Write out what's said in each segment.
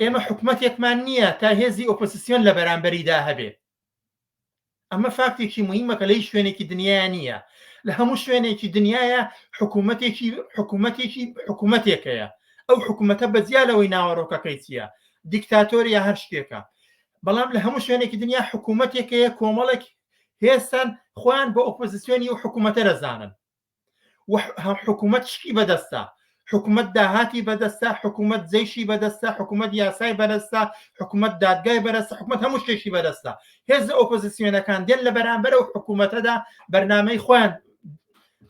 ئێمە حکومەتێکمان نییە تا هێزی ئۆپۆسسیۆن لە بەرامبەریدا هەبێ ئەمە فاکتێکی مهمە کە لەی شوێنێکی دنیا نییە لە هەموو شوێنێکی دنیاە حکوومەتێکی حکوومەتێکی حکوومەتێکەیە ئەو حکوومەتە بەجیا لەوەی ناوەڕۆکەکەی چییە دیکتاتۆریە هەر شتێکە بەڵام لە هەموو شوێنێکی دنیا حکوومەتێکەیە کۆمەڵێک هێستان خۆیان بۆ ئۆپۆزیسیۆنی و حکوومەتە دەزانن حکوومەت شتی بەدەستە حکوومەت داهاتی بەدەستە حکوومەت جەیشی بەدەستە حکوومەت یاسای بەرەستا حکوومەت دادگای بەرەسە حکوومەت هەموو شتێکی بەدەستە هێز ئۆپۆزیسیۆنەکان دێن لە بەرامبەر و حکوومەتەدا بەرنمەی خۆیان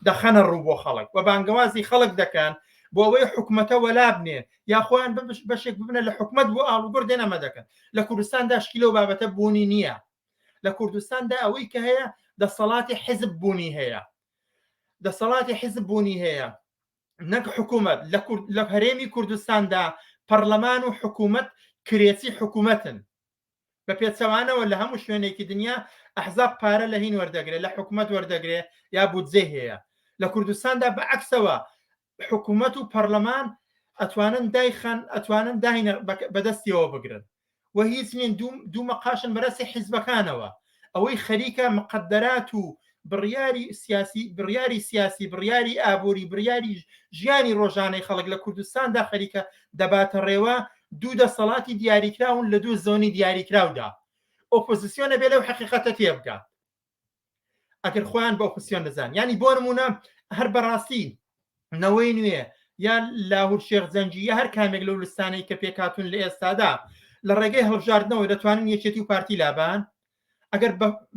دەخەنە ڕوو بۆ خەڵک و بانگەوازی خەڵک دەکەن بۆ ئەوەی حکوومەتە وەلا بنێ یا خۆیان بەشێک ببنە لە حکوومەت بۆ ئاڵوگۆر دێنەمە دەکەن لە کوردستاندا شکی لەو بابەتە بوونی نییە لە کوردستاندا ئەوەی کە هەیە دەسەڵاتی حزب بوونی هەیە دەسەڵاتی حزب بوونی هەیە نەک حکوومەت لە هەرێمی کوردستاندا پەرلەمان و حکوومەت کرێچی حکوومەتن بە پێچەوانەوە لە هەموو شوێنێکی دنیا ئەحزاب پارە لە هین وەردەگرێت لە حکوومەت وەردەگرێت یا بودجێ هەیە لە کوردستاندا بە عکسەوە حکومەت و پەڕلەمان ئەتوانن دایخەن ئەتوانن داینە بەدەستیەوە بگرن و هیچ نین دوو مەقاشن بەرەسی حیزبەکانەوە ئەوەی خەریکە مقدرات و بڕیاری سیاسی بڕیاری سیاسی بڕیاری ئابووری بڕیاری ژیانی ڕۆژانەی خەڵک لە کوردستاندا خەریکە دەباتە ڕێوە دوو دەسەڵاتی دیاریکراون لە دوو زۆنی دیاریکراودا ئۆپۆزیسیۆنە بێ لەو حقیقەتە تێبگات ئەگەر خۆیان بە ئۆپسیۆن دەزان ینی بۆ نمونە هەر بەڕاستی نەوەی نوێ یان لاهور شێخ زەنجی یا هەر کامێک لەو لستانەی کە پێکاتون لە ئێستادا لە ڕێگەی هەڵبژاردنەوە دەتوانن یەکێتی و پارتی لابان ئەگەر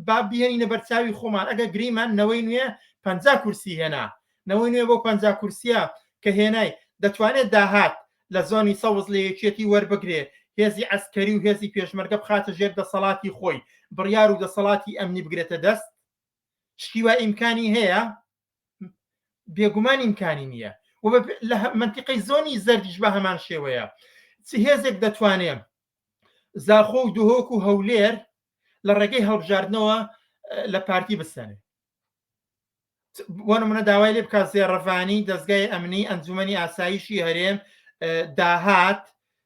با بهێنینە بەرچاوی خۆمان ئەگە گریمان نەوەی نوێ پ کورسی هێنا نەوەی نوێ بۆ پ کورسیە کە هێنای دەتوانێت داهات لە زۆنی سەوز لە یەکێتی وەربگرێ، هێزی عەسکەری و هێزی پێشمەرگە بخاتە ژێر دەسەڵاتی خۆی، بڕیار و دەسەڵاتی ئەمنی بگرێتە دەست؟ شتی وا ئیمکانی هەیە؟ بێگومان ئیمکانی نییە و لە مەنتیقەی زۆنی زەردیش بە هەمان شێوەیە چ هێزێک دەتوانێ زاخۆ و دهۆک و هەولێر لە ڕێگەی هەڵبژاردنەوە لە پارتی بسەنێ بۆ نمونە داوای لێ بکات زێڕەفانی دەستگای ئەمنی ئەنجومنی ئاسایشی هەرێم داهات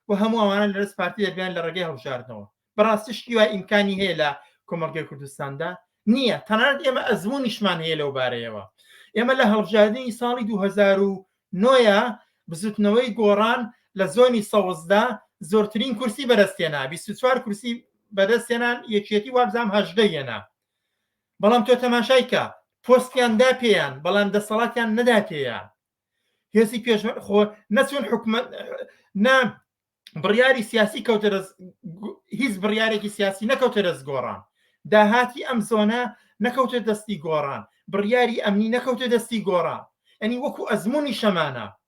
و هەموو ئەوانە لەرز پارتی دەبیان لە ڕێگەی هەڵبژاردنەوە بەڕاستی شتی وای ئیمکانی هەیە لە کۆمەڵگەی کوردستاندا نییە تەنانەت ئێمە ئەزمونیشمان هەیە لەو بارەیەوە ئێمە لە هەڵبژاردننی ساڵی 2009ە بزوتنەوەی گۆڕان لە زۆنی سەوزدا زۆرترین کورسی بەرەستێنا 24 کورسی بەدەستێنان یەکێتی وابزانام هەژدە یەنا بەڵام تۆ تەماشای کە پۆستیان دا پێیان بەڵام دەسەڵاتیان نەدا پێیان هێزی پێش خۆ نەچون حکومت نا بڕیاری سیاسی کەوتە دەست هیچ بڕیارێکی سیاسی نەکەوتە دەست گۆڕان داهاتی ئەم زۆنە نەکەوتە دەستی گۆڕان بڕیاری ئەمنی نەکەوتە دەستی گۆڕان ئەنی وەکو ئەزمموی شەمانە